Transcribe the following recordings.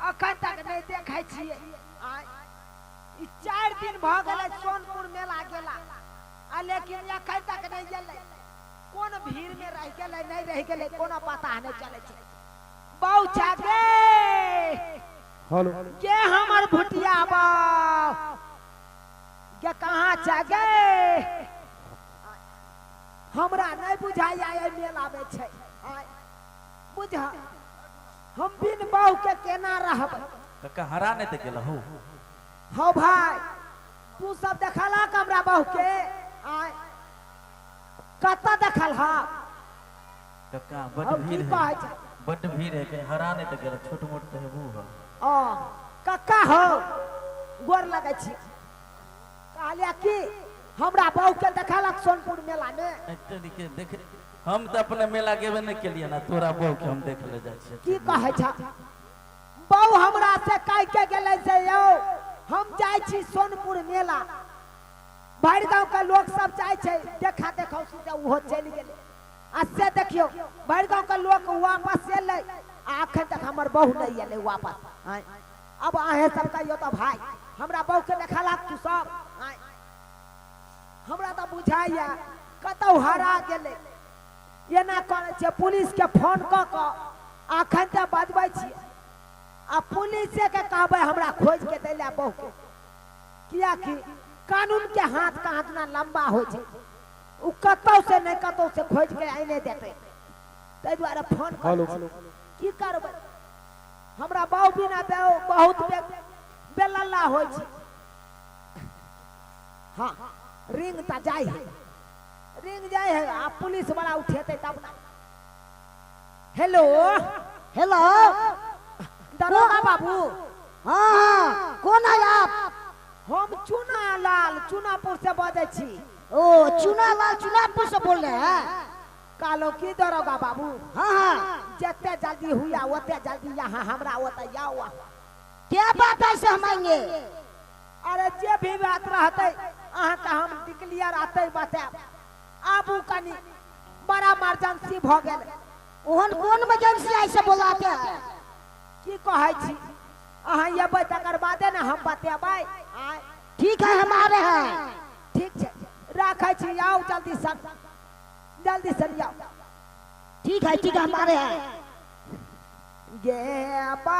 अखन तक नहीं देखे छियै आय, ई चारि दिन भ गेलै सोनपुर मेला गेला आ लेकिन अखन तक नहीं गेलै कोन भीड़ में रह गेलै नहीं रह गेलै कोनो पता नहीं चले छै बाऊ छा गे हेलो के हमर भुटिया बाऊ के कहाँ छा गे हमरा नहीं बुझाइया एहि मेला में छै आय, बुझ हम बिन बहू के केना रहबै कक्का हरा नहि तऽ गेलहु हौ भाय तू सब देखला का हमरा बहू के आय कतऽ देखल हा कक्का हम बड्ड की भीड़ है कहै छै बड्ड भीड़ है कहीं हरा नहि तऽ गेलहु छोट मोट तऽ हेबू है ओ कक्का हो गोर लगै छी कहलिया कि हमरा बहू के देखलक सोनपुर मेला में एहि तरीके देख हम तऽ अपने मेला गेबे नहि केलियै ने तोरा बहू के हम देख ले जाइ छियै की कहै छ बहू हमरा से कह के गेलै से यौ हम जाइ छी सोनपुर मेला भरि गाँव के लोक सब जाइ छै देखा देखौ से ओहो चलि गेलै आ से देखियौ भरि गाँव के लोक वापस एलै आ अखन तक हमर बहू नहि एलै वापस आँय। अब अहें सब कहियौ तऽ भाय हमरा बहू के देखा लाग तू सब आँय। हमरा तऽ बुझाइए कतहु हरा गेलै एना करै छियै पुलिसके फोन कऽ कऽ अखन तऽ बजबै छियै आ पुलिसेके कहबै हमरा खोजिके दै लए बहुके किएकि कानूनके हाथ कहाँ दिना लम्बा होइ छै ओ कतहुसँ नहि कतहुसँ खोजिके आने देतै ताहि दुआरे फोन करू की करबै हमरा बाबू बिना बहुत बेलल्ला होइ छै हाँ रिंग ता जाए है रिंग जाए है आ पुलिस वाला उठेते तब ना हेलो हेलो दरोगा बाबू हाँ हाँ कौन है आप हम चुना लाल चुनापुर से बजे छी ओ चुनालाल चुनापुर से बोल रहे हैं कालो की दरोगा बाबू हाँ हाँ जते जल्दी हुआ ओते जल्दी यहाँ हमरा ओते आओ क्या बात है से हम आएंगे अरे जे भी बात रहतै अहाँके हम डिक्लियर अतै बताएब आबू कनी बड़ा इमरजेंसी भऽ गेल ओहन कोन इमरजेंसी आइ से बोलाते है की कहै छी अहाँ अयबै तकर बादे ने हम बतेबै आँय ठीक है हम आ रहे हैं ठीक छै राखै छी आउ जल्दी सन जल्दी सन आउ ठीक है ठीक है हम आ रहे हैं गे बा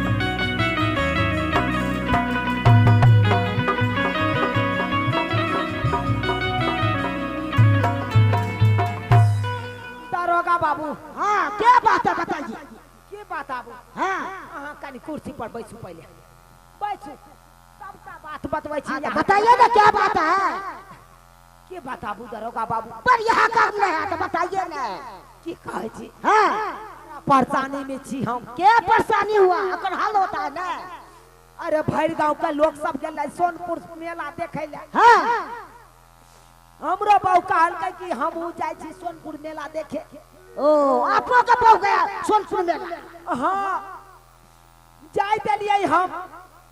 दरोगा बाबू हाँ क्या बात है बताइए की बात आबू हाँ अहाँ कनि कुर्सी पर बैसू पहिले बैसू सबटा बात बतबै छी हाँ, तो अहाँ। बताइए ना क्या बात है के बताबू दरोगा बाबू पर यह कर ले है तो बताइए ना की कहे छी हां परेशानी में छी हम के परेशानी हुआ अगर हल होता है ना अरे भर गांव के लोग सब गेल सोनपुर मेला देखे ले हां हमरो बाबू कहलकै कि हम उ जाय छी सोनपुर मेला देखे ओ आपो के बहु गया सोनपुर मेला हां जाय देलिए हम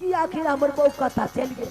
कि आखिर हमर बहू कतऽ चलि गेल